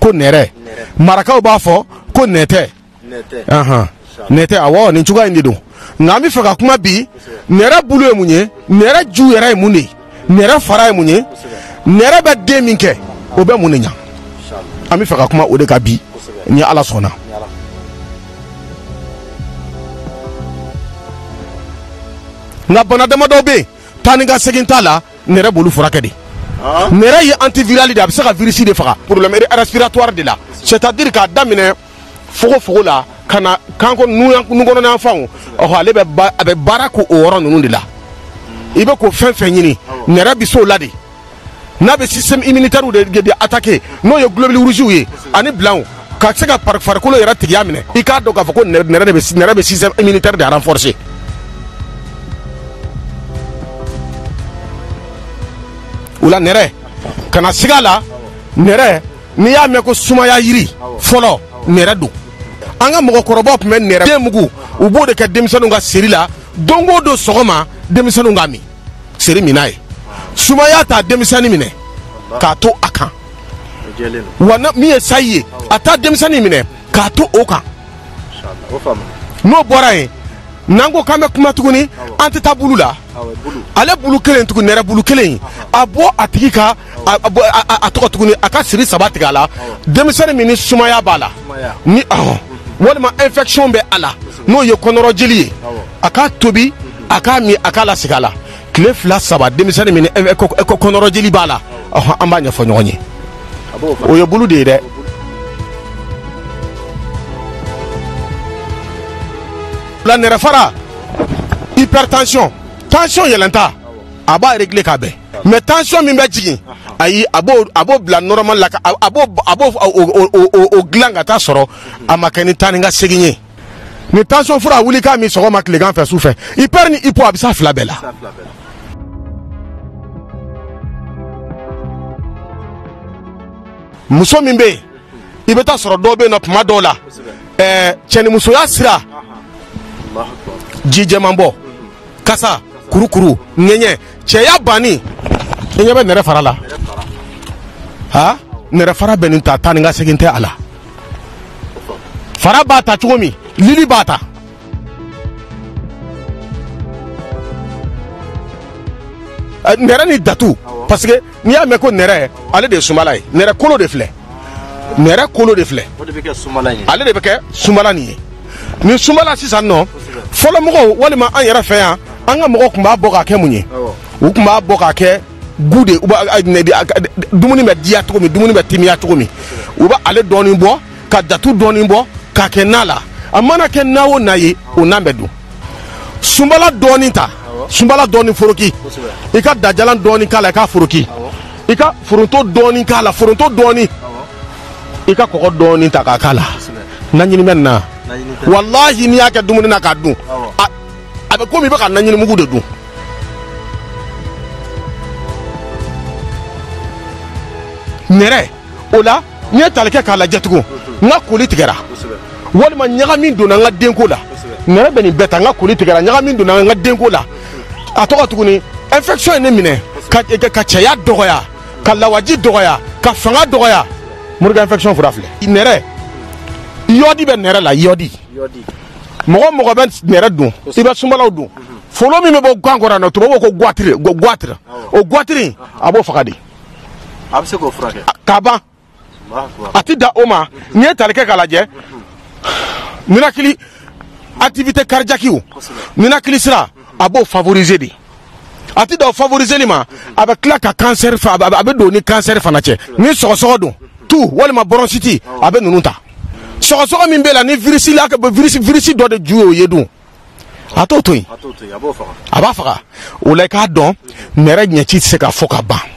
ko nɛrɛ marakaw b'a fɔ ko nɛtɛ nɛtɛ awɔ nin cogoya in de don nka an bɛ fɛ ka kuma bi nɛrɛ bulu ye mun ye nɛrɛ ju yɛrɛ ye mun de ye nɛrɛ fara ye mun ye nɛrɛ bɛ den min kɛ o bɛ mun de ɲa an bɛ fɛ ka kuma o de kan bi ni ala sɔnna nka bana damadɔ bɛ yen taa ni ka segin t'a la nɛrɛ b'olu furakɛ de nɛrɛ ye antivirali de a bɛ se ka virisi de faga problème respiratoire de la c'est à dire k'a daminɛ fogofogo la ka na kanko nukɔnɔna fanw ɔhɔ ale bɛ a bɛ baara k'o yɔrɔ ninnu de la i bɛ ko fɛn fɛn ɲini nɛrɛ bɛ s'o la de n'a bɛ système immunitaire de attaquer n'o ye globule rouge ye ani blanc ka se ka farikolo yɛrɛ tigiya minɛ i k'a dɔn k'a fɔ ko nɛrɛ de bɛ nɛrɛ bɛ système immunitaire de renforcer o la nɛrɛ kana siga a la nɛrɛ n'i y'a mɛn ko sumaya yiri fɔlɔ nɛrɛ don an ka mɔgɔkɔrɔbaw tun bɛ nɛrɛ den mugu u b'o de kɛ denmisɛnninw ka seri la don o don sɔgɔma denmisɛnninw k'a min seri min n'a ye sumaya t'a denmisɛnnin minɛ k'a to a kan wa min ye sayi ye a t'a denmisɛnnin minɛ k'a to o kan n'o bɔra yen n'an ko k'an bɛ kuma tuguni an tɛ taa bulu la ale bulu kelen tugun nɛrɛ bulu kelen a bɔ a tigi ka a tɔgɔ tuguni a ka siri saba tigɛ a la denmisɛnnin min ni sumaya b'a la ni ɔhɔn walima infection bɛ a la n'o ye kɔnɔrɔjeli ye a k'a tobi a k'a min a k'a lasigi a la tile fila saba denmisɛnnin min kɔnɔrɔjeli b'a la an b'a ɲɛfɔ ɲɔgɔn ye o ye bulu de ye dɛ la nɛrɛ fara hypertension tension yɛlɛnta a b'a régler k'a bɛn mais tension min bɛ jigin ayi a b'o a b'o bila normal la a b'o a b'o o dilan ka taa sɔrɔ a ma kɛ ni taa ni ka segin ye ni tension fura a wuli k'a min sɔgɔma tilegan fɛ su fɛ hyper ni hypo a bɛ s'a fila bɛɛ la muso min bɛ yen i bɛ taa sɔrɔ dɔw bɛ yen nɔ tuma dɔw la ɛɛ cɛnimusoya sira ji jɛman bɔ kasa kurukuru ŋɛɲɛ cɛya banni i ɲɛ bɛ nɛrɛ fara la ha nɛrɛ fara bɛ nin ta taa ni ka segin tɛ a la fara b'a ta cogo min lili b'a ta eh, nɛrɛ ni datu parce que n'i y'a mɛn ko nɛrɛ ale de ye sumala ye nɛrɛ kolo de filɛ nɛrɛ kolo de filɛ ale de bɛ kɛ sumala nin ye nin sumala sisan nɔ fɔlɔ mɔgɔw walima an yɛrɛ fɛ yan an ka mɔgɔw tun b'a bɔ k'a kɛ mun ye u tun b'a bɔ k'a kɛ gu de dumuni bɛ diya cogo min dumuni bɛ timiya cogo min u bɛ ale dɔɔnin bɔ ka datu dɔɔnin bɔ k'a kɛ na la a mana kɛ na o na ye o nan bɛ dun sunbala dɔɔnin ta sunbala dɔɔnin foroki i ka dajalan dɔɔnin k'a la i k'a foroki i ka foronto dɔɔnin k'a la foronto dɔɔnin i ka kɔgɔ dɔɔnin ta k'a k'a la naɲini bɛ nin na walahi n'i y'a kɛ dumuni na k'a dun a bɛ komi i bɛ ka naɲinimugu de dun nɛrɛ o la n'i ye tali kɛ k'a lajɛ tugun n ka koli tigɛra walima ɲagami donna n ka denko la nɛrɛ bɛ nin bɛɛ ta n ka koli tigɛra ɲagami donna n ka denko la a tɔgɔ tuguni infection ye ne minɛ ka ka cɛya dɔgɔya ka lawaji dɔgɔya ka fanga dɔgɔya morikan infection fura filɛ nɛrɛ yɔdi bɛ nɛrɛ la yɔdi mɔgɔ mɔgɔ bɛ nɛrɛ dun i bɛ sunbalaw dun folo min bɛ bɔ kan kɔrɔ na tubabu ko goitre ko goitre o goitre a b'o faga de a bɛ se k'o furakɛ ka ban a tɛ dan o ma n'i ye tali kɛ k'a lajɛ ninakili activité cardiaque ou ninakili sira a b'o favoriser de a tɛ dan o favoriseli ma a bɛ tila ka kansɛri fa a bɛ a bɛ don ni kansɛri fana cɛ ni sɔgɔsɔgɔ don toux walima bɔrɔnsiti a bɛ ninnu ta sɔgɔsɔgɔ min bɛ la ni virisi la ka virisi virisi dɔ de ju y'o ye dun a t'o to yen a b'a faga o la i k'a dɔn nɛrɛ ɲɛci tɛ se ka fɔ ka ban.